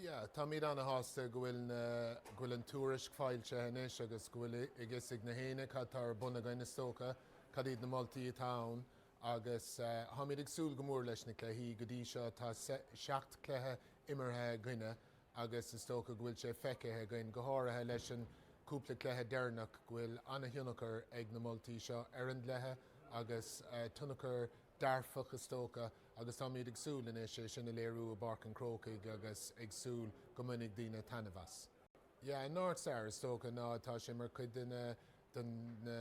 Yeah, táimid ana-shásta go bhfuil na, go bhfuil an tuairisc foilsithe anois agus go bhfuil a fhios ag gach éinne cad tá ar bun againn is dócha, cad iad na moltaí atá ann agus táimid ag súil go mór leis na cluichí. Go dtí seo tá seacht cluiche imeartha againne agus is dócha go bhfuil sé feicthe againn, go háirithe leis an cúpla cluiche deireanach, go bhfuil ana-thionchar ag na moltaí seo ar an gcluiche agus tionchar dearfach is dócha. agus táimid ag súil anois é sin a léiriú i bPáirc an Chrócaigh agus ag súil go mbainfidh daoine taitneamh as. Yeah, an North Star, is dócha ná tá sé mar chuid de na, de na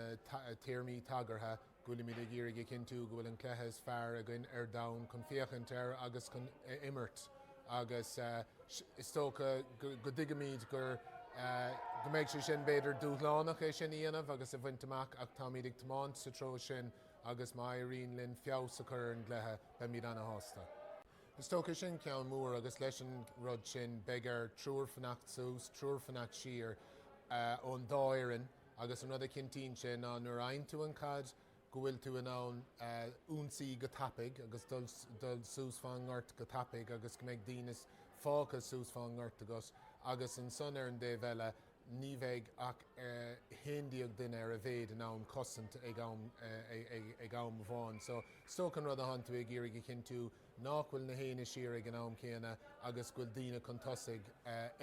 téarmaí tagartha go bhfuilimid ag iarraidh a chinntiú go bhfuil an cluiche is fearr againn ar domhan chun féachaint air agus chun imirt agus is dócha go dtuigimid gur, go mbeidh sé sin b'fhéidir dúshlánach é sin a dhéanamh agus a bhaint amach ach táimid ag tiomáint sa treo sin. agus má éiríonn linn feabhas a chur ar an gcluiche, beimid ana-shásta. Is dócha, sin ceann mór agus leis an rud sin, beidh ar triúr fanacht suas, triúr fanacht siar ón dá fhoireann agus an rud a chinntíonn sé ná nuair a fhaigheann tú an chaid, go bhfuil tú in ann ionsaí go tapaidh agus dul suas fan ngort go tapaidh agus go mbeidh daoine fágtha suas fan ngort agat agus ansan ar an dtaobh eile, ní bheidh ach 11 duine ar a mhéid in ann cosaint ag am amháin. So is dócha an rud atánn tú ag iarraidh a chinntiú nách bhfuil gach éinne siar ag an am céanna agus go bhfuil daoine chun tosaigh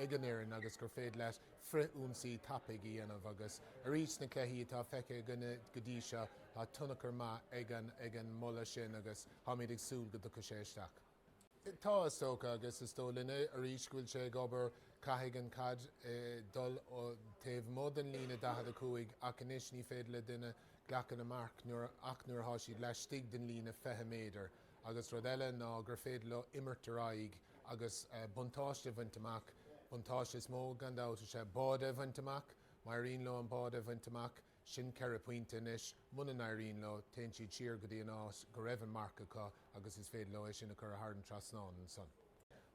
ag an fhoireann agus gur féidir leat frithionsaí tapaidh a dhéanamh agus arís sna cluichí atá feicthe againne go dtí seo tá tionchar maith ag an moladh sin agus táimid ag súil go dtiocfaidh sé isteach. Tá, is dócha, agus is dóigh linne arís go bhfuil sé ag obair, caithfidh an chaid dul taobh amuigh den líne 45 ach anois ní féidir le duine glacadh le marc ach nuair atá siad laistigh den líne 20 méadar agus rud eile ná gur féidir leo imirt ar aghaidh agus buntáiste a bhaint amach, buntáiste is mó gan dabht is ea báide a bhaint amach, má éiríonn leo an báide a bhaint amach. Sin ceithre phointe anois. Muna n-éiríonn leo, téann siad siar go dtí an áit go raibh an marc acu agus is féidir leo é sin a chur thar an trasnán ansan.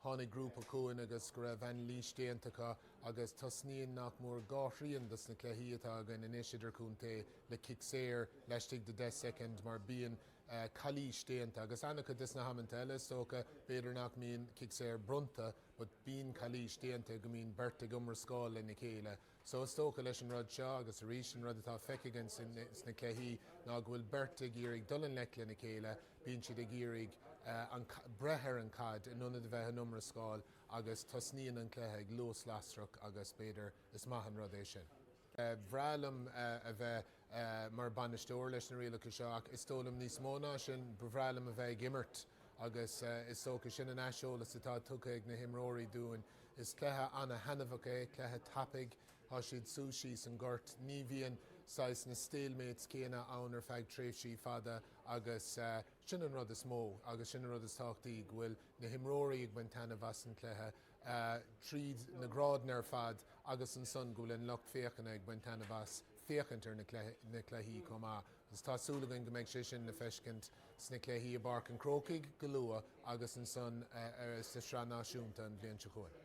Tháinig grúpa chugainn agus go raibh anailís déanta acu agus tosnaíonn nach mór dhá thrian des na cluichí atá againn anois idirchontae le cic saor laistigh de 10 soicind mar bíonn calaois déanta agus ana-chuid des na hamanta eile is dócha b'fhéidir nach mbíonn cic saor bronnta but bíonn calaois déanta go mbíonn beirt ag iomrascáil lena chéile So is dócha leis an rud seo, agus arís an rud atá feicthe againn sna cluichí ná go bhfuil beirt ag iarraidh dul i ngleic lena chéile, bíonn siad ag iarraidh an, breith ar an chaid in ionad a bheith in iomrascáil agus tosnaíonn an cluiche ag luas lasrach agus b'fhéidir, is maith an rud é sin. Bhreá liom a bheith. mar bhainisteoir leis na rialacha seo ach is dóigh liom níos mó ná sin, ba bhreá liom a bheith ag imirt agus is dócha sin an aiseolas atá tugtha ag na himreoirí dúinn. Is cluiche an-thaitneamhach é, cluiche tapaidh, tá siad suas síos an ghoirt, ní bhíonn saghas na stalemates céanna ann ar feadh tréimhsí fada agus sin an rud is mó agus sin an rud is tábhachtaí go bhfuil na himreoirí ag baint taitneamh as an cluiche. tríd na grádanna ar fad agus ansan go bhfuil an lucht féachana ag baint taitneamh as féachaint ar na cluichí chomh maith agus tá súil againn go mbeidh sé sin le feiscint sna cluichí i bPáirc an Chrócaigh go luath agus ansan sa Sraith Náisiúnta an bhliain seo chugainn.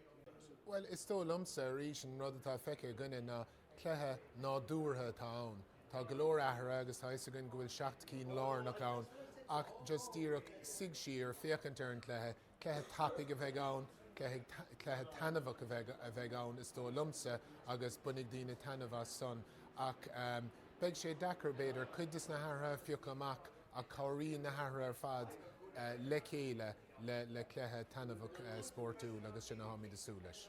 Bhuel, is dóigh liomsa, arís, an rud atá feicthe againne ná cluiche nádúrtha atá ann. Tá go leor athruithe agus tá fhios againn go bhfuil seacht cinn lárnach ann ach just díreach suigh siar, féachaint ar an cluiche, Cluiche tapaidh a bheidh ann, cluiche taitneamhach a bheidh ann is dóigh liomsa agus bainfidh daoine taitneamh as san ach beidh sé deacair, b'fhéidir, cuid de na hathruithe a phiocadh amach ach cabhraíonn na hathruithe ar fad le chéile le cluiche taitneamhach spórtúil agus sin a táimid ag súil leis.